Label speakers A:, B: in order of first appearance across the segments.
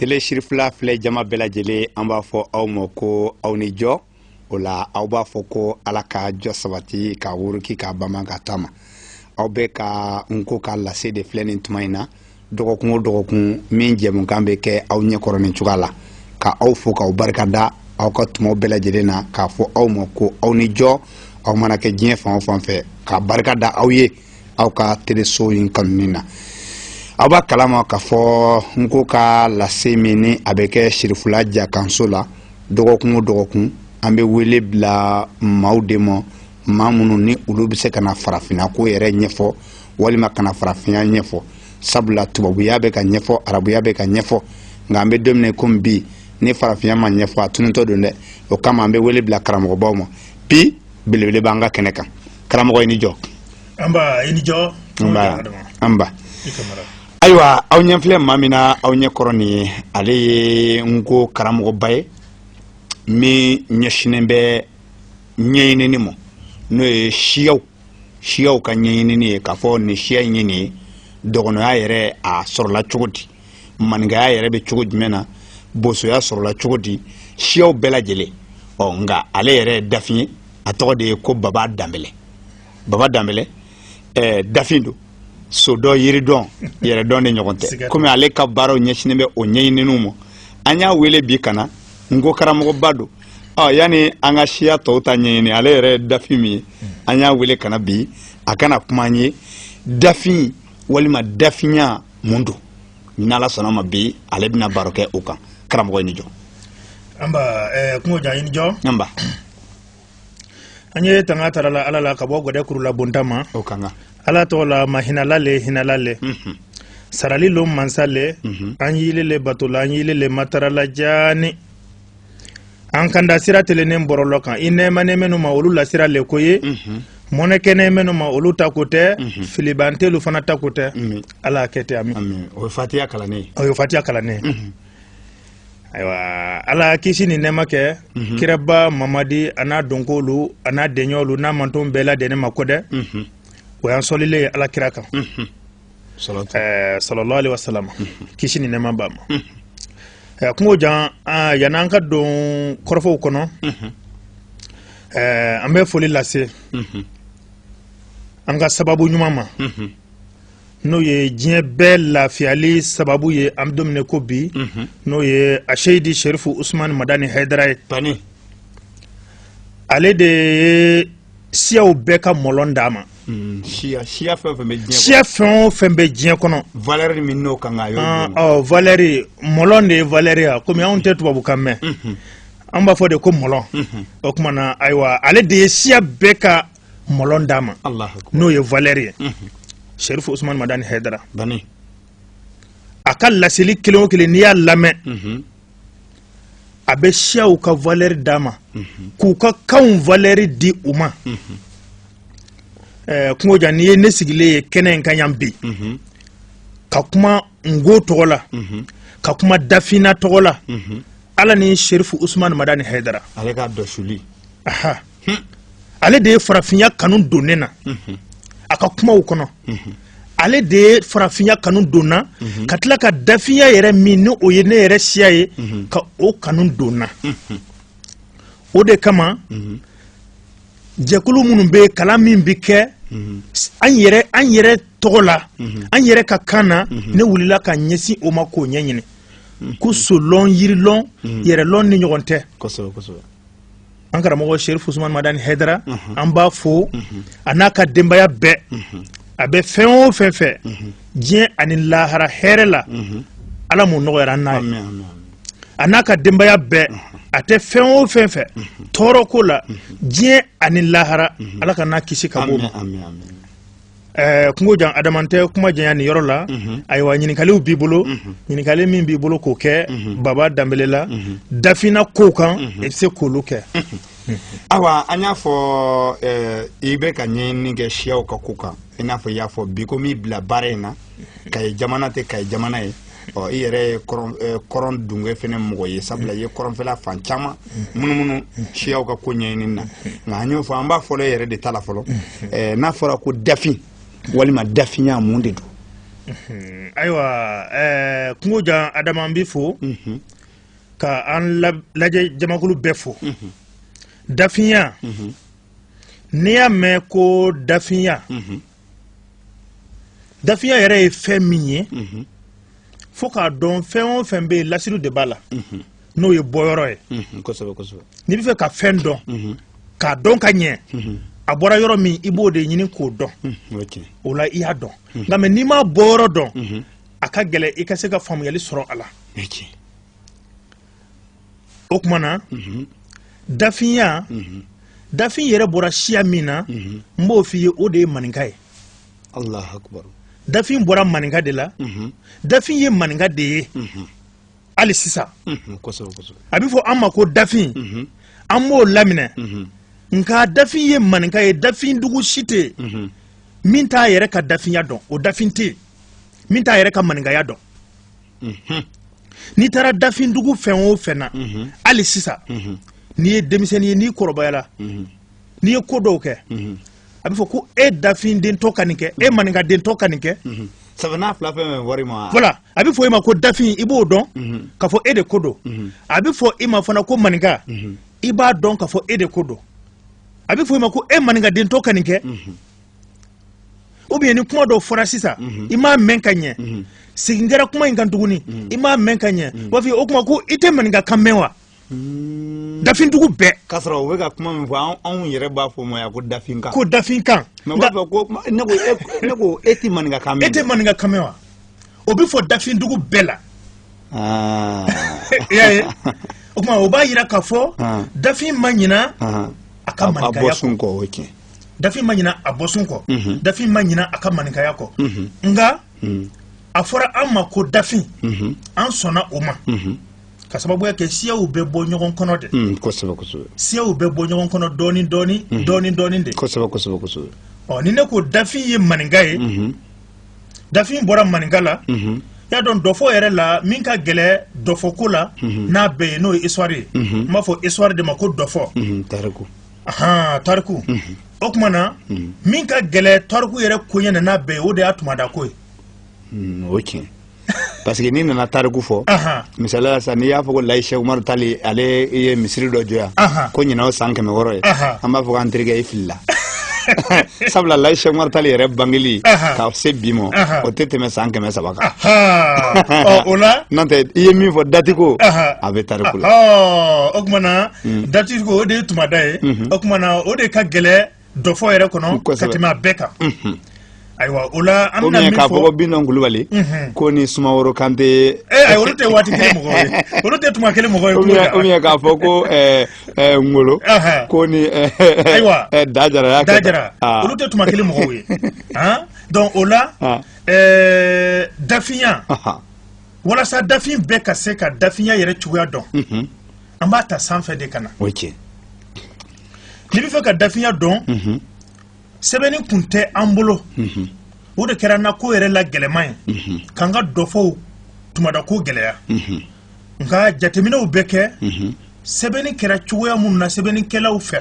A: tele sirifila filɛ jama bɛɛ lajɛlen an b'a fɔ aw ma ko aw ni jɔ o la aw b'a fɔ ko ala ka jɔ sabati ka wuruki ka bama ka taama aw bɛɛ ka nko ka lase de filɛ nin tuma in na dɔgɔkun o dɔgɔkun min jɛmukan bɛ kɛ aw ɲɛkɔrɔ nin cogoya la ka aw fo k'aw barika da aw ka tumaw bɛɛ lajɛlen na k'a fɔ aw ma ko aw ni jɔ aw mana kɛ diɲɛ fan o fan fɛ ka barika da aw ye aw ka teleso in kanuni na aw b'a kalama k'a fɔ nko ka lase min ni a bɛ kɛ sirifula jakanso la dɔgɔkun o dɔgɔkun an bɛ wele bila maaw de ma maa minnu ni olu bɛ se ka na farafinna ko yɛrɛ ɲɛfɔ walima ka na farafinya ɲɛfɔ sabula tubabuya bɛ ka ɲɛfɔ arabuya bɛ ka ɲɛfɔ nka an bɛ don min komi bi ni farafinya ma ɲɛfɔ a tunutɔ don dɛ o kama an bɛ wele bila karamɔgɔbaw ma bi belebele b'an ka kɛnɛ kan karamɔgɔ i ni jɔ anba i
B: ni jɔ anba
A: anba ayiwa aw ɲɛ filɛ maa min na aw ɲɛ kɔrɔ nin ye ale ye nko karamɔgɔba ye min ɲɛsinnen bɛ ɲɛɲinini ma n'o ye siyaw siyaw ka ɲɛɲinini ye k'a fɔ nin siya in ye nin ye dɔgɔnɔya yɛrɛ a sɔrɔla cogo di maninkaya yɛrɛ bɛ cogo jumɛn na bosoya sɔrɔla cogo di siyaw bɛɛ lajɛlen ɔ nka ale yɛrɛ ye dafin ye a tɔgɔ de ye ko baba danbɛlɛ baba danbɛlɛ ɛɛ dafin don sodɔn yiridɔn yɛrɛdɔn de ɲɔgɔn tɛ komi ale ka baaraw ɲɛsinnen bɛ o ɲɛɲininiw ma an y'a wele bi ka na nko karamɔgɔba don ɔ yanni an ka siya tɔw ta ɲɛɲini ale yɛrɛ ye dafin min ye an y'a wele ka na bi a ka na kuma an ye dafin walima dafinya mun don ni ala sɔnna ma bi ale bɛna baro kɛ o kan karamɔgɔ i ni jɔ anba
B: eh, kungo jan i ni jɔ anba an ye tanga tara la ala la ka bɔ gɔdɛ kurulabonta ma o kan ka
A: ala tɔgɔ la
B: mahinala le hinala le mhm. sarali lon mansa le mhm. an y'ile le bato la an y'ile le matara la jaani an kanda sira telennen bɔrɔlɔ kan i nɛɛmanen minnu ma olu la sira le ko i mɔnɛ kɛnen minnu ma olu ta ko tɛ filibantelu fana ta ko tɛ ala a kɛ ten amin o ye fatiya kalannen
A: o ye fatiya
B: kalannen ayiwa ala ye kisi ni nɛɛma kɛ kiraba mamadi a n'a dɔnkolu a n'a deɲɔnlu n'a manton bɛɛ ladɛnnen ma ko dɛ o y'an sɔlilen ye ala kira kan sallallahu alaihi wasallam kisi ni nɛɛma b'a ma kungo jan yanni an ka don kɔrɔfɔw kɔnɔ an bɛ foli lase an ka sababu ɲuman ma n'o ye diɲɛ bɛɛ lafiyali sababu ye an bɛ don min na ko bi mhm. n'o ye aseyidi serifu usumani madani hayidara ye ale de ye siyaw bɛɛ ka mɔlɔn d'a ma hmm, siya fɛn o fɛn bɛ diɲɛ kɔnɔ valɛri min n'o kan
A: ka ah, oh, valɛri mɔlɔn
B: de ye valɛri ye komi anw tɛ tubabukan mɛn mhm. an b'a fɔ de ko mɔlɔn mhm. o tuma na ayiwa ale de ye siya bɛɛ ka mɔlɔn d'a ma n'o ye valɛri ye mhm. serifu usumani madani hɛdara a ka laseli kelen o kelen n'i y'a lamɛn a bɛ siyaw ka valɛri d'a ma k'u ka kanw valɛri di u ma kungo jan n'i ye ne sigilen ye kɛnɛ in kan yan bi ka kuma nko tɔgɔ la ka kuma dafina tɔgɔ la ala ni serifu usumani madani hɛdara ale ka dɔsuli
A: hmm.
B: ale de ye farafinya kanu don ne na mhm. a ka kumaw kɔnɔ mhm. ale de ye farafinya kanu don n na mhm. ka tila ka dafinya yɛrɛ min ni o ye ne yɛrɛ siya ye ka o kanu don n na o de kama jɛkulu minnu bɛ kalan min bɛ kɛ an yɛrɛ an yɛrɛ tɔgɔ la an yɛrɛ ka kan na ne wulila ka ɲɛsin o ma k'o ɲɛɲini ko solɔn yirilɔn yɛrɛlɔn ni ɲɔgɔn tɛ an karamɔgɔ serifu usumani madani hɛdara mhm. an b'a fo mhm. a n'a ka denbaya bɛɛ mhm. a bɛ fɛn o fɛn fɛ diɲɛ ani lahara hɛrɛ la ala m'o nɔgɔyara an n'a ye a n'a ka denbaya bɛɛ a tɛ fɛn o fɛn fɛ tɔɔrɔ ko la diɲɛ ani lahara ala k'an n'a kisi ka b'o ma Eh, kungo jan adama n tɛ kuma janya nin yɔrɔ la mhm. ayiwa ɲininkaliw b'i bolo mhm. ɲininkali min b'i bolo k'o kɛ mhm. baba danbele la dafina kow kan i bɛ se k'olu kɛ
A: awa an y'a fɔ eh, i bɛ ka ɲɛɲini kɛ siyaw ka ko kan i n'a fɔ i y'a fɔ bi ko min y'i bila baara in na kayi jamana tɛ kayi jamana ye ɔ i yɛrɛ ye kɔrɔn dungɛ fɛnɛ mɔgɔ ye sabula i ye kɔrɔnfɛla fan caman munumunu siyaw ka ko ɲɛɲini na nka an y'o fɔ an b'a fɔlɔ e yɛrɛ de ta la fɔlɔ n'a fɔra ko dafin walima dafinya mun de don
B: ayiwa kungo jan adama n b'i fo ka an lajɛ jamakulu bɛɛ fo dafinya n'i y'a mɛn ko dafinya dafinya yɛrɛ ye fɛn min ye fo k'a dɔn fɛn o fɛn bɛ yen lasiriw de b'a la n'o ye bɔyɔrɔ ye n'i bɛ fɛ ka fɛn dɔn k'a dɔn ka ɲɛ a bɔra yɔrɔ min i b'o de ɲini k'o dɔn o la i y'a dɔn nka mɛ n'i m'a bɔyɔrɔ dɔn a ka gɛlɛn i ka se ka faamuyali sɔrɔ a la o tuma na dafinya dafin yɛrɛ bɔra siya min na n b'o f'i ye o de ye maninka ye dafin bɔra maninka de la dafin ye maninka de ye hali sisan a bɛ fɔ an ma ko dafin an b'o laminɛ nka dafin ye maninka ye dafin dugu si tɛ yen min t'a yɛrɛ ka dafinya dɔn o dafin tɛ yen min t'a yɛrɛ ka maninkaya dɔn n'i taara dafindugu fɛn o fɛn na hali sisan n'i ye denmisɛnnin ye n'i kɔrɔbayala n'i ye ko dɔw kɛ a bɛ fɔ ko e dafin dentɔ ka nin kɛ e maninka dentɔ ka nin kɛ sabanan fila fɛn fɛn wari ma voilà a bɛ fɔ e ma ko dafin i b'o dɔn k'a fɔ e de ko don a bɛ fɔ e ma fana ko maninka i b'a dɔn k'a fɔ e de ko don a bɛ fɔ e ma ko e maninka dentɔ ka nin kɛ ou bien ni kuma dɔw fɔra sisan mhm. i m'a mɛn ka ɲɛ mhm. segin kɛra kuma in kan tuguni mhm. i m'a mɛn ka ɲɛ u b'a fɔ o kuma ko i tɛ maninka kan mɛn wa hmm. dafindugu bɛɛ k'a sɔrɔ u bɛ ka kuma
A: min fɔ anw yɛrɛ b'a fɔ ma yan ko dafinkan ko dafinkan mɛ u b'a fɔ
B: ko
A: ne ko e, ne ko e tɛ maninka kan mɛn e tɛ maninka kan mɛn
B: wa o bɛ fɔ dafindugu bɛɛ la ah. i y'a ye o tuma o b'a jira k'a fɔ ah. dafin ma ɲina ah. a ka maninkaya kɔ a bɔsun kɔ o ye tiɲɛ dafin ma ɲina a bɔsun kɔ mhm. dafin ma ɲina a ka maninkaya kɔ mhm. nka mhm. a fɔra an ma ko dafin an sɔnna o ma ka sababuya kɛ siyaw bɛ bɔ ɲɔgɔn kɔnɔ de mm, siyaw bɛ bɔ ɲɔgɔn kɔnɔ dɔɔni dɔɔni dɔɔni dɔɔni de ɔ ni ne ko dafin ye maninka ye dafin bɔra maninka la y'a dɔn dɔfɔ yɛrɛ la min ka gɛlɛ dɔfɔko la n'a bɛɛ ye n'o ye histoire ye n b'a fɔ histoire de ma ko dɔfɔ ahan tariku o tuma na min ka gɛlɛ tariku yɛrɛ koɲɛ na n'a bɛɛ ye o de y'a tumada ko ye Hmm, o ye
A: tiɲɛ parce que n'i nana tariku fɔ Ahan. misaliya la sisan n'i y'a fɔ ko layi sɛk umaru tali ale ye misiri dɔ jɔ yan Ahan. ko ɲinan o san kɛmɛ wɔɔrɔ ye Ahan. an b'a fɔ k'an terikɛ i filila sabula layi sɛk umaru tali yɛrɛ bangeli Ahan. ka se bi ma Ahan. o tɛ tɛmɛ san kɛmɛ saba kan ahan ɔ o la n'o tɛ
B: i ye min fɔ
A: dati ko Ahan. a bɛ tariku la ɔ o tuma na
B: mm. dati ko o de ye tumada ye mm-hmm. o tuma na o de ka gɛlɛ dɔfɔ yɛrɛ kɔnɔ ka tɛmɛ a bɛɛ kan mm-hmm. ayiwa o la an bɛna min fɔ k'a fɔ ko bitɔn kulubali
A: mm-hmm. ko ni sumaworo kante ee eh, ayi olu tɛ waati
B: kelen mɔgɔ ye olu tɛ tuma kelen mɔgɔ ye kulo kan oubien k'a fɔ
A: ko ɛɛ eh, ɛɛ eh, ngolo ko ni ɛɛ
B: ayiwa da jara y'a kɛ
A: da jara ah. olu
B: tɛ tuma kelen mɔgɔw ye han donc o la ah. ɛɛ dafinya walasa dafin bɛɛ ka se ka dafinya yɛrɛ cogoya dɔn an b'a ta sanfɛ de ka na o cɛ n'i bɛ fɛ ka dafinya dɔn mhm. sɛbɛnni kun tɛ an bolo mhm. o de kɛra n na ko yɛrɛ la gɛlɛman ye mhm. k'an ka dɔfɔw tumada ko gɛlɛya nka jateminɛw bɛ kɛ sɛbɛnni kɛra cogoya minnu na sɛbɛnnikɛlaw fɛ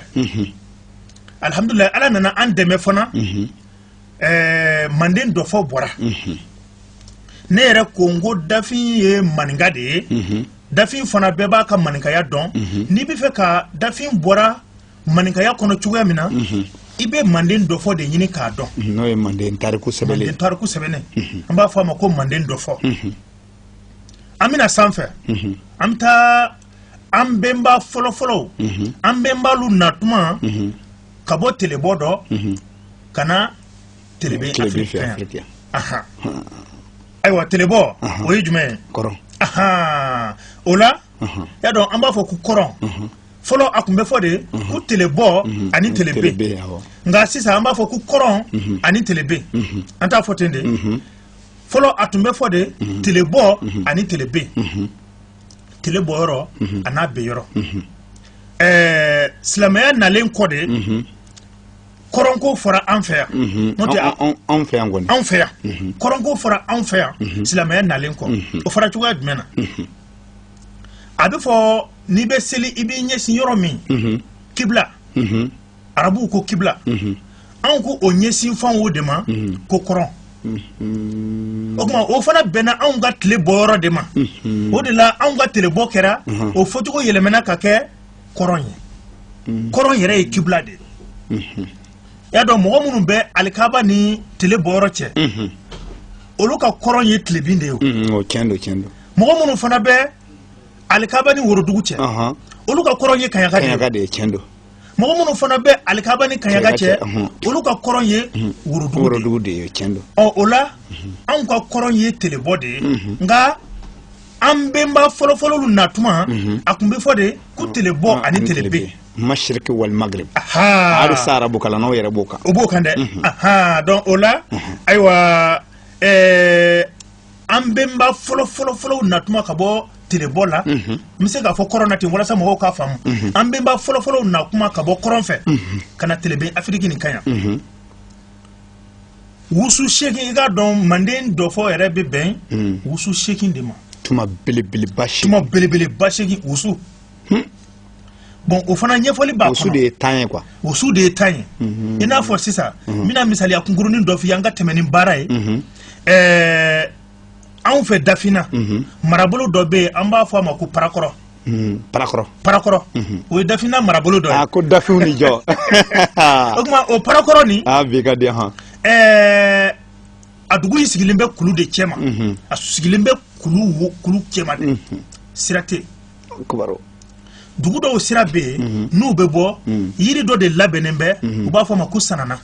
B: alihamudulilayi ala nana an dɛmɛ fana eh, manden dɔfɔ bɔra ne yɛrɛ ko n ko dafin ye maninka de ye dafin fana bɛɛ b'a ka maninkaya dɔn mhm. n'i bɛ fɛ ka dafin bɔra maninkaya kɔnɔ cogoya min na mhm. i bɛ manden dɔfɔ de ɲini k'a dɔn mhm, n'o ye manden tariku
A: sɛbɛnnen manden tariku sɛbɛnnen an
B: b'a fɔ a ma ko manden dɔfɔ an bɛ na sanfɛ an bɛ taa an bɛnba fɔlɔfɔlɔw an bɛnbalu na tuma ka bɔ telebɔ dɔ ka na ayiwa telebɔ o ye jumɛn ye o la y'a dɔn an b'a fɔ ko kɔrɔn fɔlɔ a tun bɛ fɔ de ko telebɔ ani telebe nka sisan an b'a fɔ ko kɔrɔn ani tlebe an t'a fɔ ten de fɔlɔ a tun bɛ fɔ de telebɔ ani telebe tele bɔ yɔrɔ an'a be yɔrɔ ɛɛ silamɛya nalen kɔ de kɔrɔnko fɔra an fɛ yan mhm. n'o tɛ anw fɛ yan kɔni anw
A: fɛ yan
B: mhm. kɔrɔnko fɔra anw fɛ yan mhm. silamɛya nalen kɔ o fɔra cogoya jumɛn na a bɛ fɔ n'i bɛ seli i b'i ɲɛsin yɔrɔ min kibla arabuw ko kibla anw ko o ɲɛsin fan o de ma ko kɔrɔn o kuma o fana bɛnna anw ka tile bɔ yɔrɔ de ma o de la anw ka tile bɔ kɛra o fɔcogo yɛlɛmana ka kɛ kɔrɔn ye mm. kɔrɔn yɛrɛ ye kibla de ye mm-hmm. y'a dɔn mɔgɔ minnu bɛ alikaba ni tile bɔyɔrɔ cɛ mm-hmm. olu ka kɔrɔn ye tilebin de ye mm-hmm.
A: mɔgɔ minnu fana bɛ
B: alikaba ni worodugu cɛ uh-huh. olu ka kɔrɔn ye kaɲaka de ye mɔgɔ
A: minnu fana bɛ
B: alikaba ni kaɲaka cɛ uh-huh. olu ka kɔrɔn ye worodugu de ye ɔ
A: o la
B: anw ka kɔrɔn ye telebɔ de ye nka an bɛnba fɔlɔfɔlɔ na tuma mhm. a tun bɛ fɔ de ko mhm. telebɔ ah, ani telebe masiriki wal
A: magrib hali sa arabu kalannaw yɛrɛ b'o kan o b'o kan dɛ mhm.
B: donc o la ayiwa eh, an bɛnba fɔlɔfɔlɔfɔlɔw na tuma ka bɔ telebɔ la n bɛ se k'a fɔ kɔrɔn na ten walasa mɔgɔw k'a faamu an bɛnba fɔlɔfɔlɔw na kuma ka bɔ kɔrɔn fɛ ka na telebe afiriki nin kan yan wusu seegin i k'a dɔn manden dɔfɔ yɛrɛ bɛ bɛn hmm. wusu seegin de ma tuma belebeleba
A: seegin tuma belebeleba
B: seegin wusu hmm. bon o fana ɲɛfɔli b'a kɔnɔ wusu de ye tan ye
A: quoi wusu de ye tan
B: ye hmm. i n'a fɔ sisan n bɛna misaliya kunkurunin dɔ f'i ye an ka tɛmɛ ni baara ye ɛɛ anw fɛ dafinna marabolo dɔ bɛ yen an b'a fɔ a ma ko parakɔrɔ parakɔrɔ parakɔrɔ o ye dafinna marabolo dɔ ye ko dafinw ni jɔ
A: o tuma
B: o parakɔrɔ nin bi ka di hɔn
A: ɛɛ
B: a dugu in sigilen bɛ kulu de cɛma a sigilen bɛ kulu kulu cɛma de sira tɛ dugu dɔw sira bɛ yen n'u bɛ bɔ yiri dɔ de labɛnnen bɛ u b'a fɔ a ma ko sanana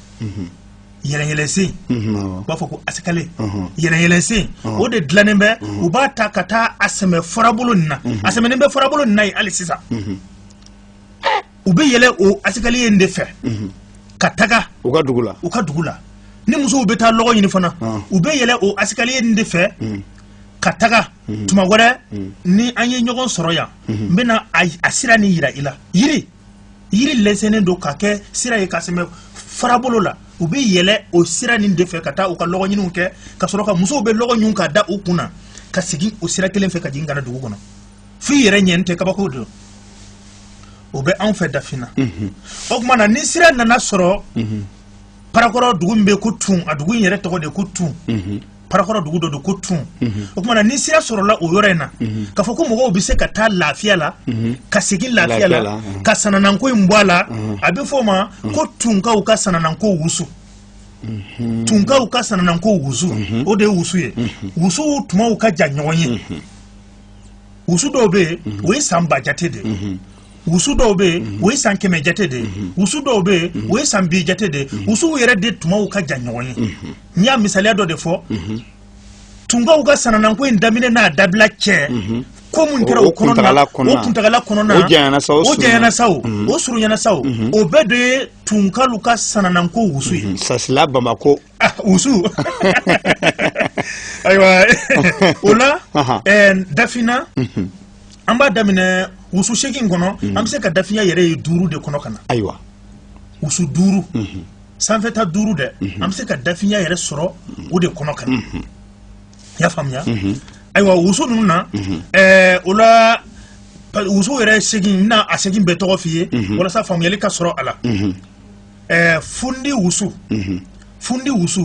B: yɛlɛyɛlɛsen u b'a fɔ ko asikale yɛlɛyɛlɛsen o de dilannen bɛ u b'a ta ka taa a sɛmɛ farabolo nin na a sɛmɛnen bɛ farabolo nin na yen hali sisan u bɛ yɛlɛ o asikaliye in de fɛ ka taga u ka dugu la u
A: ka dugu la ni musow bɛ
B: taa lɔgɔ ɲini fana u bɛ yɛlɛ o asikaliye in de fɛ ka taga tuma wɛrɛ ni an ye ɲɔgɔn sɔrɔ yan n bɛna a sira nin yira i la yiri yiri lɛsɛnnen don ka kɛ sira ye ka sɛmɛ farabolo la u bɛ yɛlɛ o sira nin de fɛ ka taa u ka lɔgɔ ɲiniw kɛ ka sɔrɔ ka musow bɛ lɔgɔ ɲun ka da u kun na ka segin o sira kelen fɛ ka jigin ka na dugu kɔnɔ f'i yɛrɛ ɲɛni tɛ kabako don o bɛ anw fɛ dafina mhm. o tuma na ni sira nana sɔrɔ mhm. parakɔrɔ dugu min bɛ ko tun a dugu in yɛrɛ tɔgɔ de ko tun mhm. parakɔrɔ dugu dɔ don ko tun mhm. o tuma na ni sira sɔrɔla o yɔrɔ in na mhm. k'a fɔ ko mɔgɔw bɛ se ka taa lafiya la mhm. ka segin lafiya la ka sanananko in bɔ a la a bɛ fɔ o ma ko tunkaw ka sanananko wusu tunkaw ka sanananko wusu o de ye wusu ye wusuw tumaw ka jan ɲɔgɔn ye wusu dɔw bɛ yen o ye san ba jate de ye wusu dɔw bɛ yen o ye san kɛmɛ jate de ye wusu dɔw bɛ yen o ye san bi jate de ye wusuw yɛrɛ de tumaw ka jan ɲɔgɔn ye n y'a misaliya dɔ de fɔ mhm. tunkaw ka sanananko in daminɛ n'a dabila cɛ mhm. ko mun kɛra o kɔnɔna o kuntagala kɔnɔna o janyana sa o
A: janyana sa o mhm.
B: o surunyana sa o o bɛɛ de ye tunkalu ka sanananko wusu ye sasila
A: bamako ah,
B: wusu ayiwa o la eh, dafina an b'a daminɛ wusu seegin kɔnɔ an bɛ se ka dafinya yɛrɛ ye duuru de kɔnɔ ka na ayiwa
A: wusu
B: duuru sanfɛta duuru dɛ an bɛ se ka dafinya yɛrɛ sɔrɔ o de kɔnɔ ka na i y'a faamuya ayiwa wusu ninnu na o la wusu yɛrɛ seegin na a seegin bɛɛ tɔgɔ f'i ye walasa faamuyali ka sɔrɔ a la fundi wusu fundi wusu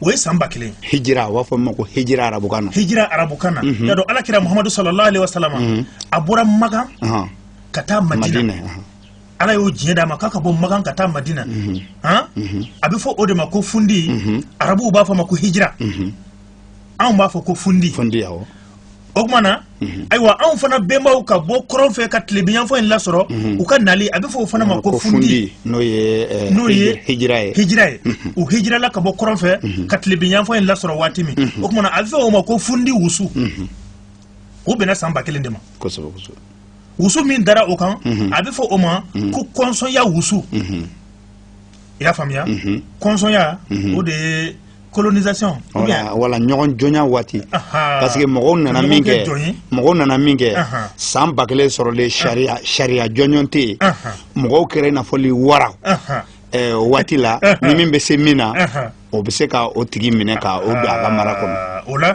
B: o ye san ba kelen hijira u b'a fɔ min
A: ma ko hijira arabukan na hijira arabukan na y'a dɔn ala
B: kira muhamadu sallallahu alaihi wasallam a bɔra makan ka taa madina ala y'o diɲɛ d'a ma k'a ka bɔ makan ka taa madina han a bɛ fɔ o de ma ko fundi arabuw b'a fɔ ma ko hijira anw b'a fɔ ko fundi fundi awɔ
A: o tuma na
B: ayiwa anw fana bɛnbaw ka bɔ kɔrɔn fɛ ka tilebiyanfan in lasɔrɔ u ka nali a bɛ fɔ o fana ma ko fundi n'o ye eh,
A: n'o ye hijira ye hijira ye u hijirala ka
B: bɔ kɔrɔn fɛ ka tilebiyanfan in lasɔrɔ waati min o tuma na a bɛ fɔ o ma ko fundi wusu o bɛnna san ba kelen de ma kosɛbɛ kosɛbɛ
A: wusu
B: min dara o kan a bɛ fɔ o ma ko kɔnsɔnya wusu i y'a faamuya kɔnsɔnya o de ye colonisation wala
A: ɲɔgɔn jɔnya waati parce que mɔgɔw nana min kɛ mɔgɔw nana min kɛ san ba kelen sɔrɔlen sariya sariya jɔnjɔn tɛ yen mɔgɔw kɛra i n'a fɔ wara waati la ni min bɛ se min na o bɛ se ka o tigi minɛ ka o don a ka mara kɔnɔ ah, o
B: la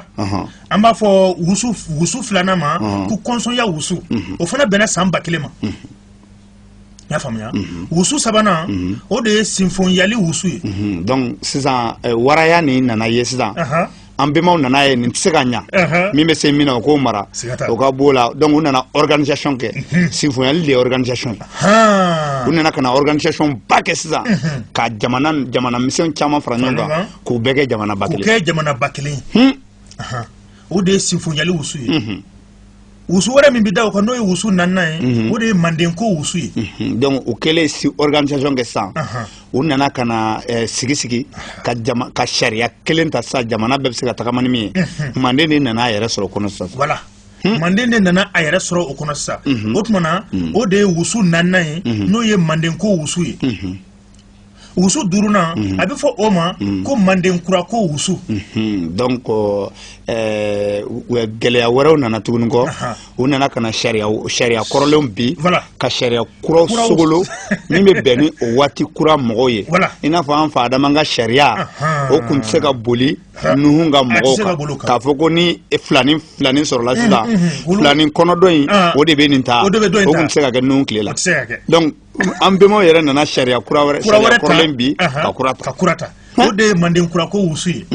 B: an b'a fɔ wusu wusu filanan ma ko kɔnsɔnya wusu mhm. o fana bɛnna san ba kelen ma mhm. i y'a faamuya mhm. wusu sabanan o de ye sinfonyali wusu ye donc sisan
A: eh, waraya nin nana ye sisan an bɛnbaw nana ye nin tɛ se ka ɲa min bɛ se min na o k'o mara o ka b'o la donc u nana organisation kɛ sinfonyali de ye organisation u nana ka na organisation ba kɛ sisan ka jamana misɛn caman fara ɲɔgɔn kan k'u bɛɛ kɛ jamana ba kelen kɛ jamana ba kelen
B: o de ye sinfonyali wusu ye wusu wɛrɛ min bɛ da o kan n'o ye wusu naaninan ye o de ye manden ko wusu ye donc u
A: kɛlen si organisation kɛ sa u nana ka na eh, sigi sigi ka ka sariya kelen ta sisan jamana bɛɛ bɛ se ka tagama ni min ye manden de nana a yɛrɛ sɔrɔ o kɔnɔ sisan voilà
B: hmm? manden de nana a yɛrɛ sɔrɔ o kɔnɔ sisan o tuma na o de ye wusu naaninan ye n'o ye manden ko wusu ye wusu duurunan mhm. a bɛ fɔ o ma mhm. ko manden kura ko wusu mhm. donc
A: eh, gɛlɛya wɛrɛw nana tuguni kɔ u nana ka na sariya sariya kɔrɔlenw bi ka sariya kuraw sogolo min bɛ bɛn ni o waati kura mɔgɔw ye i n'a fɔ an fa adama ka sariya o tun tɛ se ka boli nuhun ka mɔgɔw kan k'a fɔ ko ni filani filani sɔrɔla sisan filani kɔnɔdɔn in o de bɛ nin ta o tun tɛ se ka kɛ nuhun tile la donc an bɛnbaw yɛrɛ nana sariya kura wɛrɛ kura wɛrɛ kɔrɔlen bi ka kura ta ka kura ta o de ye manden kurako wusu ye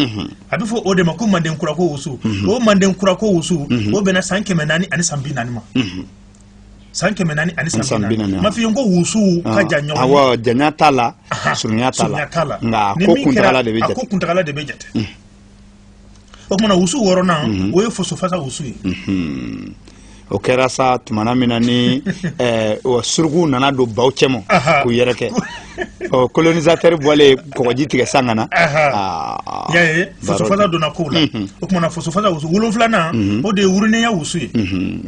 A: a bɛ fɔ o de ma ko manden kurako wusu o manden kurako wusu o bɛnna san kɛmɛ naani ani san bi naani ma san kɛmɛ naani ani san bi naani ma f'i ye ko wusuw ka jan ɲɔgɔn awɔ janya t'a la surunya t'a la nka ko kuntagala de bɛ jate ko kuntagala de bɛ jate o tuma na wusu wɔɔrɔnan mhm. o ye fosofasa wusu ye mhm. o kɛra sa tumana min na ni eh, surukuw nana don baw cɛma k'u yɛrɛ kɛ ɔ colonisateur bɔlen kɔgɔji tigɛ san ka na
B: ah, ah. y'a ye fosofasa donna kow la mhm. o tuma na fosofasa wusu wolonfilanan o de ye wurunenya wusu ye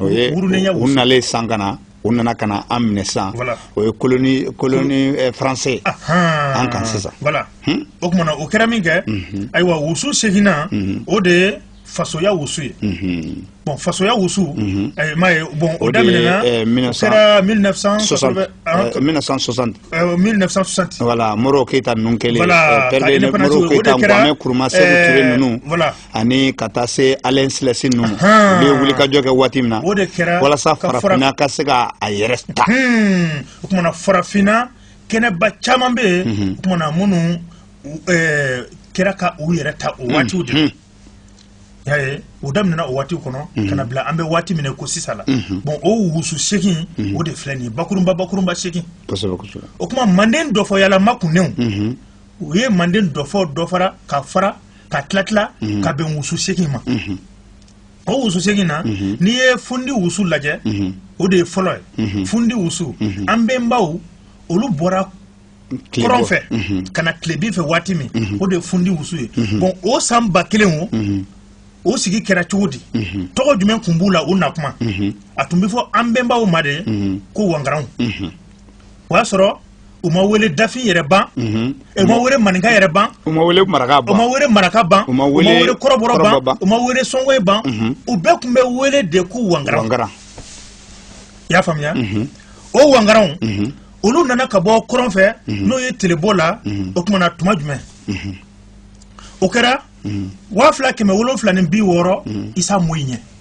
B: o ye wurunenya
A: wusu u nalen san ka na u nana ka na an minɛ sisan o ye colonie colonie eh, français an kan sisan voilà hmm? o tuma
B: na o kɛra min kɛ mhm. ayiwa wusu seginnan mhm. o de ye fasoya wusu ye mhm. bon fasoya wusu eh, m'a ye bon o daminɛna eh, o kɛra 1960 1960 voilà moro
A: keyita ninnu kɛlen président moro keyita kwame nkuruma seku ture ninnu voilà ani ka taa se Haile Selassie ninnu ma olu ye wulikajɔ kɛ waati min na o de kɛra walasa farafinna ka se ka a yɛrɛ ta o tumana
B: farafinna kɛnɛba caman bɛ yen o tumana minnu kɛra ka u yɛrɛ ta o waatiw de la y'a ye o daminɛna o waatiw kɔnɔ ka na bila an bɛ waati min ko sisan la bon o wusu segin o de filɛ nin ye bakurunba bakurunba segin o tuma manden dɔfɔyalama kunnenw u ye manden dɔfɔ dɔfara ka fara ka tila tila mhm. ka bɛn wusu segin ma mhm. o wusu segin na mhm. n'i ye fundi wusu lajɛ o de ye fɔlɔ ye fundi wusu an bɛnbaw olu bɔra kɔrɔn fɛ ka na tilebin fɛ waati min o de ye fundi wusu ye bon o san ba kelen o o sigi kɛra cogo di tɔgɔ jumɛn tun b'u la u na kuma a tun bɛ fɔ an bɛnbaw ma de ko wangaranw o y'a sɔrɔ u ma wele dafin yɛrɛ ban mhm. u ma wele maninka yɛrɛ ban u ma wele maraka ban u
A: ma wele maraka ban u ma
B: wele kɔrɔbɔrɔ ban u ma wele sɔngoye ban mhm. u bɛɛ tun bɛ wele de ko wangara wangara i y'a faamuya mhm. o wangaranw olu nana ka bɔ kɔrɔn fɛ n'o ye telebɔ la o tumana tuma jumɛn o kɛra waa fila kɛmɛ wolonfila ni bi wɔɔrɔ isa moyi ɲɛ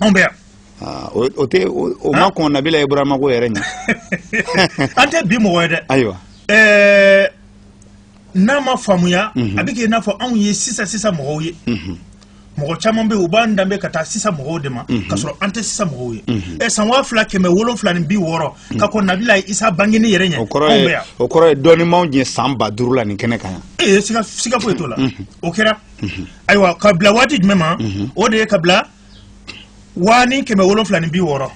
A: anw bɛ yan Ah, o o tɛ o o ma kɔn nabila ibrahima ko yɛrɛ
B: ɲɛ an tɛ bi mɔgɔ ye dɛ ayiwa ɛɛ n'a ma faamuya a bɛ kɛ i n'a fɔ anw ye sisan sisan mɔgɔw ye mɔgɔ caman bɛ yen u b'an danbe ka taa sisan mɔgɔw de ma k'a sɔrɔ an tɛ sisan mɔgɔw ye ɛ san waa fila kɛmɛ wolonfila ni bi wɔɔrɔ ka kɔn nabila isa bangeni yɛrɛ ɲɛ o kɔrɔ anw bɛ yan o kɔrɔ ye
A: dɔɔni b'anw jɛ san ba duuru la nin kɛnɛ kan yan ee siga siga
B: foyi t'o la o kɛra ayiwa ka bila waati jumɛn ma o de ye ka bila waa ni kɛmɛ wolonwula ni bi wɔɔrɔ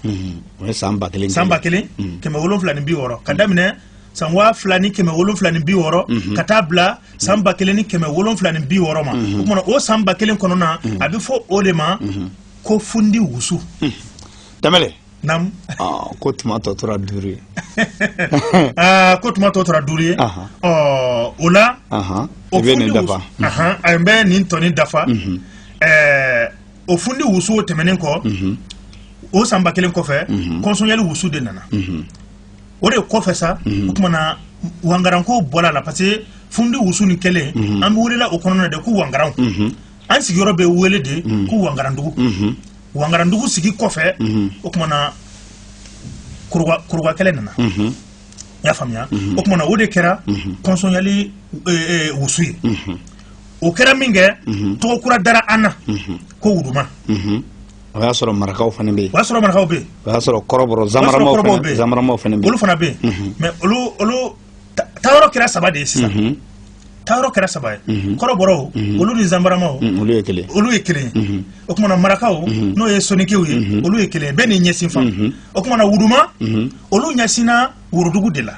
B: o ye
A: san ba kelen san ba kelen kɛmɛ wolonwula
B: ni bi wɔɔrɔ ka daminɛ san waa fila ni kɛmɛ wolonwula ni bi wɔɔrɔ ka taa bila san ba kelen ni kɛmɛ wolonwula ni bi wɔɔrɔ ma o kumana o san ba kelen kɔnɔna a bɛ fɔ o de ma ko
A: fundi
B: wusu tamale
A: ko tuma tɔ tora duuru
B: ye ko tuma tɔ tora duuru ye o la o bɛ nin
A: dafa a bɛ nin
B: tɔ nin dafa o fundi wusu tɛmɛnen kɔ o san ba kelen kɔfɛ kɔnsɔnyali wusu de nana o de kɔfɛ sa o tuma na wangaranko bɔra a la parce que fundi wusu nin kelen an bɛ welela o kɔnɔna de ko wangaranw an sigiyɔrɔ bɛ wele de ko wangarandugu wangarandugu sigi kɔfɛ mhm. o tumana kuruba kɛlɛ nana mhm. y'a faamuya mhm. o tumana o de kɛra kɔnsɔnyali e, e, wusu ye o kɛra min kɛ tɔgɔ kura dara an na ko wuduma o
A: y'a sɔrɔ marakaw fana bɛ yen o y'a sɔrɔ marakaw bɛ yen o
B: y'a sɔrɔ kɔrɔbɔrɔ
A: zamaramaw fana bɛ yen zamaramaw fana bɛ yen olu fana bɛ yen
B: mɛ olu olu taayɔrɔ kɛra saba de ye sisan taayɔrɔ kɛra saba ye mhm. kɔrɔbɔrɔw mhm. olu ni zanbaramaw mhm, olu ye kelen olu ye kelen ye o tumana marakaw n'o ye sonikew ye olu ye kelen ye bɛɛ n'i ɲɛsin fan o tumana wuduma olu ɲɛsinna worodugu de la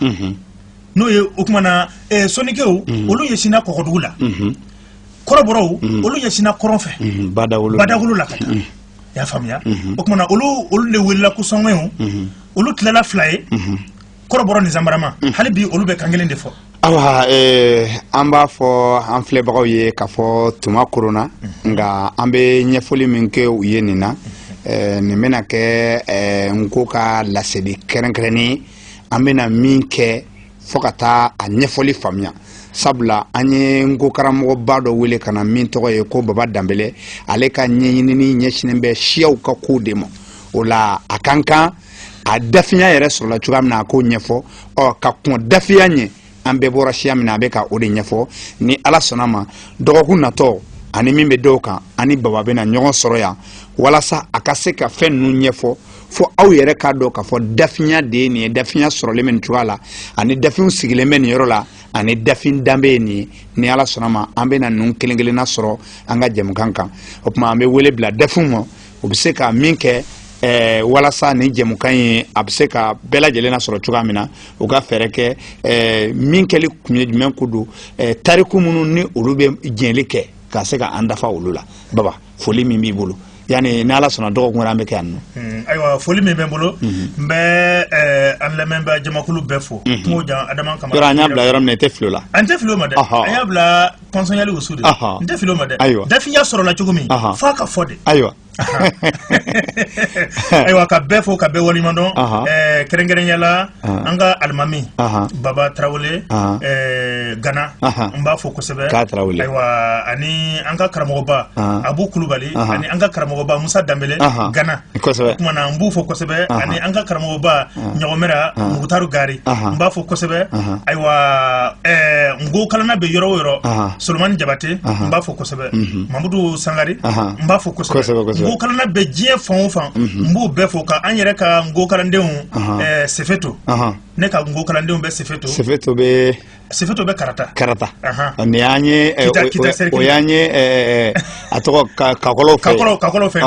B: n'o ye o tumana eh, sonikew olu ɲɛsinna kɔgɔdugu la kɔrɔbɔrɔw olu ɲɛsinna kɔrɔn fɛ badawolo la ka taa i y'a faamuya o tumana olu olu de welela ko sɔngɔyiw olu tilala fila ye kɔrɔbɔrɔ ni zanbarama mm. hali bi olu bɛ kan kelen de fɔ
A: awa eh, an b'a fɔ an filɛbagaw ye k'a fɔ tuma koronna mm. nka an bɛ ɲɛfɔli min kɛ u ye nin na mm. eh, nin bɛna kɛ eh, nko ka laseli kɛrɛnkɛrɛnnen an bɛna min kɛ fo ka taa a ɲɛfɔli faamuya sabula an ye nko karamɔgɔba dɔ wele ka na min tɔgɔ ye ko baba danbele ale ka ɲɛɲinini ɲɛsinnen bɛ siyaw ka kow de ma o la a ka kan a dafinya yɛrɛ sɔrɔla cogoya min na a k'o ɲɛfɔ ɔ ka kɔn dafinya ɲɛ an bɛɛ bɔra siya min na a bɛ ka o de ɲɛfɔ ni ala sɔnna ma dɔgɔkun natɔ ani min bɛ da o kan an ni baba bɛna ɲɔgɔn sɔrɔ yan walasa a ka se ka fɛn ninnu ɲɛfɔ fo aw yɛrɛ k'a dɔn k'a fɔ dafinya de ye nin ye dafinya sɔrɔlen bɛ nin cogoya la ani dafinw sigilen bɛ nin yɔrɔ la ani dafin danbe ye nin ye ni ala sɔnna ma an bɛna ninnu kelen kelenna sɔrɔ an ka jɛmukan kan o tuma an bɛ wele bila dafinw ma u bɛ se ka min kɛ eh, walasa nin jɛmukan in a bɛ se ka bɛɛ lajɛlen nasɔrɔ cogoya min na u ka fɛɛrɛ kɛ eh, min kɛli kun ye jumɛn ko don eh, tariku minnu ni olu bɛ jɛnli kɛ ka se ka an dafa olu la baba foli min b'i bolo yani ni ala sɔnna dɔgɔkun wɛrɛ an bɛ kɛ yan nɔ hmm, ayiwa foli min bɛ n
B: bolo hmm. n bɛ eh, an lamɛnbaa jamakulu bɛɛ fo hmm. kungo jan adama kama yɔrɔ an y'a bila yɔrɔ min na i tɛ
A: fili o la an tɛ fili o ma dɛ an
B: y'a bila kɔnsɔnyali wusu de Ahan. n tɛ fili o ma dɛ Ayiwa. dafinya sɔrɔla cogo min Ahan. f'a ka fɔ de ayiwa ayiwa ka bɛɛ fo ka bɛɛ waleɲuman dɔn Ahan. ɛɛ, kɛrɛnkɛrɛnya la Ahan. an ka alimami Ahan. baba tarawele Ahan. ɛɛ, gana Ahan. n b'a fo kosɛbɛ K'a Tarawele. ayiwa ani an ka karamɔgɔba Ahan. abu kulubali Ahan. ani an ka karamɔgɔba musa danbele Ahan. gana tumana n b'u fo kosɛbɛ ani an ka karamɔgɔba ɲɔgɔmɛra mugutaru gari n b'a fo kosɛbɛ ayiwa nko kalanna bɛ yɔrɔ o yɔrɔ solomani jabate n b'a fo kosɛbɛ mamudu sangari n b'a fo kosɛbɛ nko kalanna bɛ diɲɛ fan o fan n b'u bɛɛ fo ka an yɛrɛ ka nko kalandenw sefeto ne ka nko kalandenw bɛ sefeto sefeto bɛ sefeto bɛ karata karata nin y'an ye o y'an ye a tɔgɔ kakɔlɔw fɛ kakɔlɔw kakɔlɔw fɛ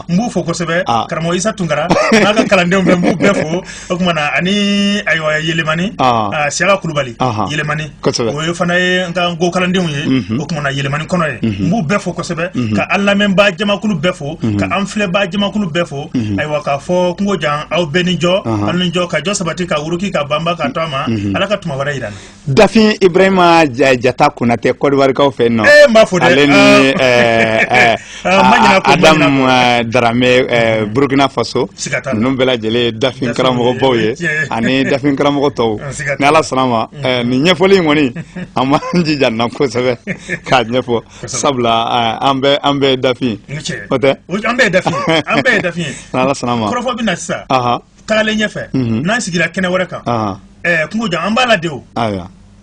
B: n b'u fo kosɛbɛ karamɔgɔ Isa Tunkara n'a ka kalandenw bɛɛ n b'u bɛɛ fo o tuma na ani ayiwa Yelemani Siyaka Kulubali Yelemani kosɛbɛ o ye fana ye n ka nko kalandenw ye o tuma na Yelemani kɔnɔ ye n b'u bɛɛ fo kosɛbɛ ka an lamɛnbaa jamakulu bɛɛ fo ka an filɛbaa jamakulu bɛɛ fo mhm. ayiwa k'a fɔ kungo jan aw bɛɛ ni jɔ aw ni jɔ ka jɔ sabati ka wuruki ka banba ka to a ma mhm. ala ka tuma wɛrɛ yira an na dafin ibrahima
A: jata konatɛ kɔdiwarikaw fɛ nɔ ee eh, n b'a fo dɛ ale ni
B: ah.
A: eh, eh, ah, adama daramɛ burkina faso ninnu bɛɛ lajɛlen dafin karamɔgɔbaw ye ani dafin karamɔgɔ tɔw ni ala sɔnna a ma nin ɲɛfɔli in kɔni an b'an jija nin na kosɛbɛ k'a ɲɛfɔ sabula an bɛɛ an bɛɛ dafin o tɛ an bɛɛ
B: dafin an bɛɛ dafin ni ala sɔnna a ma kɔrɔfɔ bɛ
A: na sisan
B: tagalen ɲɛfɛ n'an sigira kɛnɛ wɛrɛ kan kungo jan an b'a la de o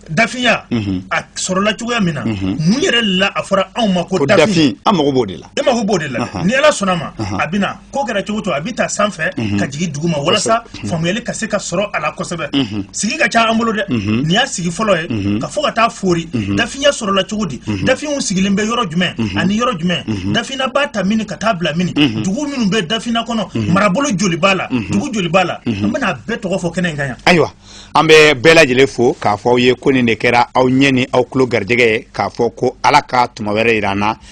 B: dafinya mhm. a sɔrɔla cogoya min na mhm. mun yɛrɛ la a fɔra anw ma ko dafin an mago b'o de la e mago
A: b'o de la ni
B: ala sɔnna a ma a bɛna ko kɛra cogo to a bɛ ta sanfɛ mhm. ka jigin duguma walasa mhm. faamuyali ka se ka sɔrɔ a la kosɛbɛ mhm. sigi ka ca an bolo dɛ nin y'a sigi fɔlɔ ye k'a fɔ ka taa foori dafinya sɔrɔla cogo di dafinw sigilen bɛ yɔrɔ jumɛn ani yɔrɔ jumɛn dafinna b'a ta mini ka taa bila mini dugu minnu bɛ dafinna kɔnɔ marabolo joli b'a la dugu joli b'a la an bɛna a bɛɛ tɔgɔ fɔ kɛnɛ in kan yan ayiwa an bɛ
A: bɛɛ lajɛlen fo k'a fɔ aw ye ko nin de kɛra aw ɲɛ ni aw tulo garijɛgɛ ye k'a fɔ ko ala ka tuma wɛrɛ yira an na